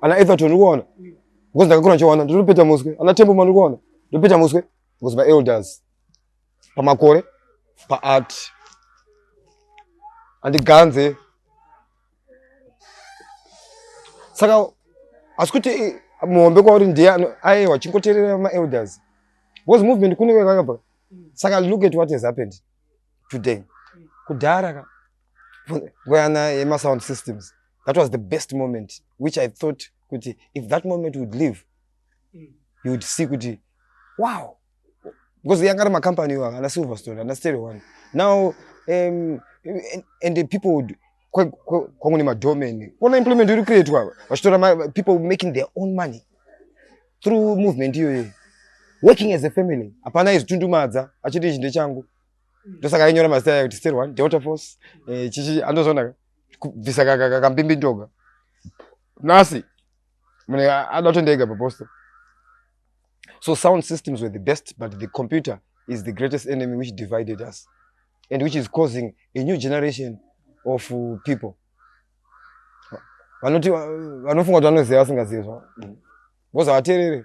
ana Everton uri kuona because ndakakura ndichiona ndinopeta muswe ana Tembo mani uri kuona ndinopeta muswe because my elders pamakore paart andiganze saka asi kuti eh, muhombe kwauri ndiye aiwa chingoteerera maelders because movement kune kwekakabva saka look at what has happened today kudhara ka kuyana yemasound systems that was the best moment which i thought kuti if that moment would live mm. you would see kuti wow because yanga ari macompany iwaga ana silverstone ana stereo one now um, and, and the people would kwangu nemadomain kuona implement iri kuitwa vachitora people making their own money through movement iyoyo working as a family hapana izvitundumadza achiti ichi ndechangu ndosaka ainyora mazita aya kuti stel one delta force eh, chichi andozonaka kubvisa kambimbi ndoga nhasi mune ada kutondiega paposto so sound systems were the best but the computer is the greatest enemy which divided us and which is causing a new generation of uh, people vanoti vanofunga kuti vanoziva vasingazivi zvavo mm. vozavateerere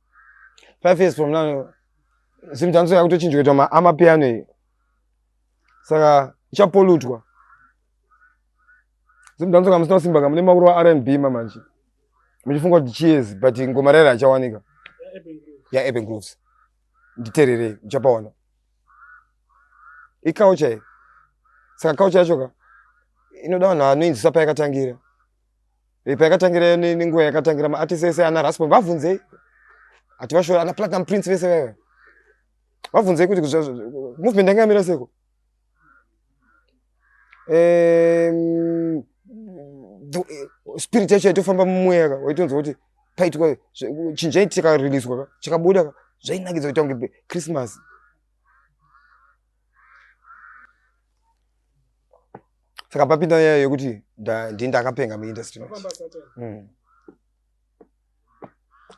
five years from now zimta anso yakutochinjwa kuita amapiano iyi saka ichapolutwa zimta anso kamusina kusimba kamune makuru wa rnb mamanje muchifunga kuti chiezi but ngoma raira achawanika ya urban grooves nditererei muchapaona ikaucha iyi saka kaucha yacho ka inoda vanhu vanoinzisa payakatangira Ipa yakatangira ni ninguwa yakatangira ma artist ese ana Raspo vavunzei. Ati vashora ana Platinum Prince vese vaya. Vavunzei kuti movement yanga yamira seko. Eh spirit yacho yaitofamba mumweya ka waitonzwa kuti paitwa chinhu chaiti chikariliswa ka chikabuda ka zvainakidza kuita kunge Christmas. saka papinda nyaya yekuti ndii ndakapenga muindustry mm.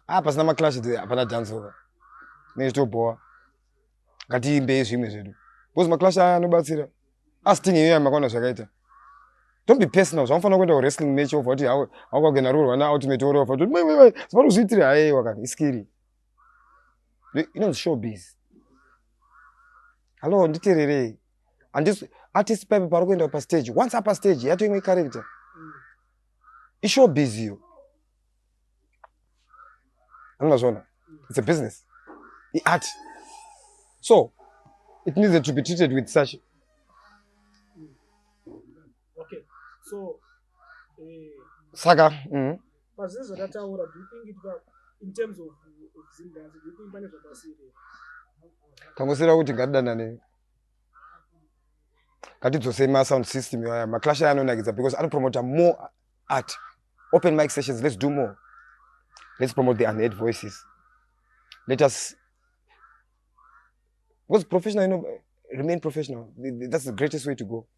ah pasina maclash the hapana dance over ne zvitobhowa ngatiimbei zvimwe zvedu because maclash aya anobatsira asting iyo yamakaona zvakaita don't be personal zvamufanira kuenda kuwrestling match ova kuti haukakuenda rurwa na ultimate warrior ova kuti mai mai mai zvavari kuzviitira haye wakati iskiri inonzi showbiz hallo nditererei andisi artist paipe pari kuenda pastage once apa stage yato imwe character ishowbiz iyo anozvona it's a business iart so it needs to be treated with such okay so eh saka mhm pazvinhu zvakataura do you think it was in terms of zimdanzi do you think pane zvakasiri tangosira kuti ngatidanane ngatidzosei ma sound system aya maclash aya anonakidza because anopromota more art open mic sessions let's do more let's promote the unheard voices let us because professional you know, remain professional that's the greatest way to go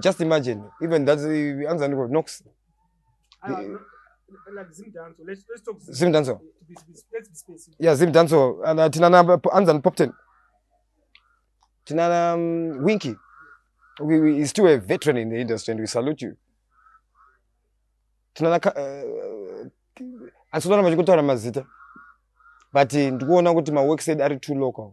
just imagine even that uh, anza ndiko nox ah, like zim danso let's let's talk zim, zim danso let's be specific yeah zim danso and uh, tinana anza and popten tinana um, winky we, we is still a veteran in the industry and we salute you tinana uh, ansoona vachikutaura mazita but ndikuona kuti maworksaid ari too local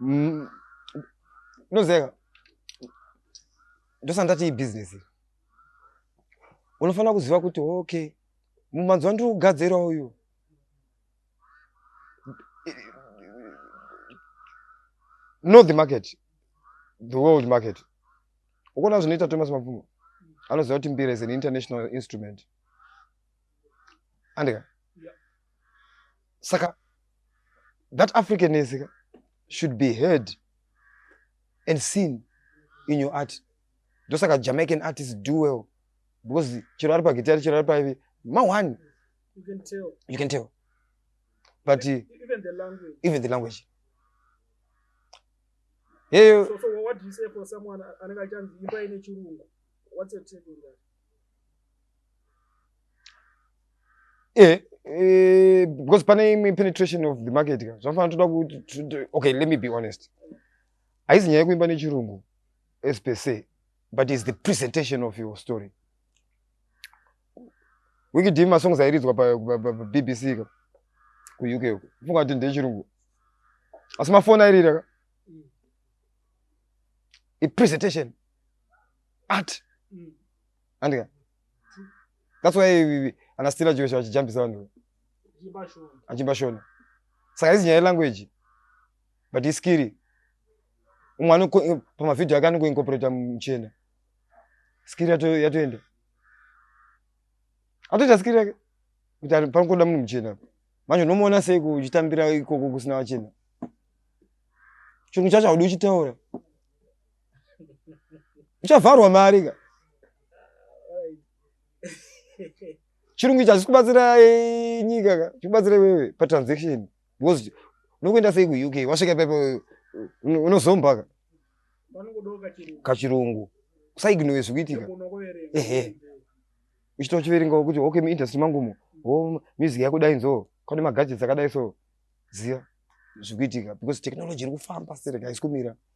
Mm, ndozeka ndosandati ibhizinesi unofanira kuziva kuti okay mumanzi wandiri kugadzira uyu know the market the world market ukuona zvinoita thomas mapfumo anoziva kuti mbira is an international instrument andika saka that african is should be heard and seen in your art ndosaka jamaican artist do well because chero ari pagitari chero ari paivi mawani you can tell, you can tell. but even, even the language, even the language. Hey, so, so what do you say for someone anenge achanzi imba ine chirungu what's your take on that eh, eh, because pane imwe penetration of the market ka zvafana toda kuti okay let me be honest haizi nyaya yekuimba nechirungu as per se but is the presentation of your story wikidii masongs airidzwa pabbc ka kuuk uko funga kuti ndechirungu asi mafoni airira ka ipresentation Art. Mm. Andika. That's why anastira Joshua achijambisa vanhu. Achimba shona. Achimba shona. Saka izi nyaya language. But he's scary. Umwe ano pama video ake anongo incorporate mchena. Scary yato yatoenda. Atoita scary yake. Kuti ari panokoda munhu mchena. Manje unomuona sei kuchitambira ikoko kusina vachena. Chungu chacho haudi uchitaura. uchavharwa mari ka chirungu ichi hachisi kubatsira eh, nyika ka chikubatsira iwewe patransaction because unokuenda sei kuuk wasvika pepe unozomba ka kachirungu usaignowe zvikuitika ehe uchitochiverengawo kuti okay muindustry mangumo o oh, music yakudai nzo kwane magadgets akadai so ziva zvikuitika because technology iri kufamba sereka haisi kumira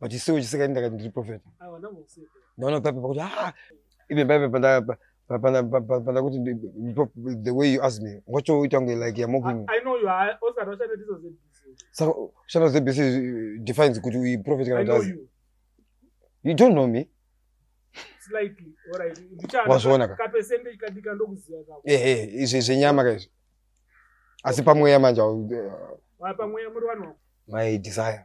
but isiwo chisika ini ndakati ndiri profeta ndaona papepa kuti ah even papepa pandakuti the way you ask me wachoita kunge like you're mocking saka kushanda zbc defines kuti uyi profet kana kuti you don't know me wazviona ka ehe izvi zvenyama ka izvi asi pamweya manje my desire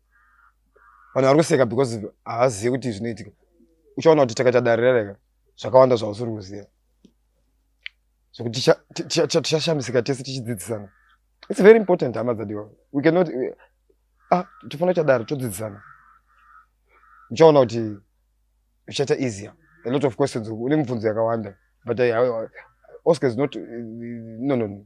vanhu vari kuseka because havazivi kuti zvinoitika uchaona kuti takaita dare rereka zvakawanda zvausiri kuziva zvekuti tichashamisika tese tichidzidzisana its very important hama dzadiwa we cannot ah tofanira kuita dare todzidzisana uchaona kuti zvichaita easier a lot of questions une mibvunzo yakawanda but oscar is not no no no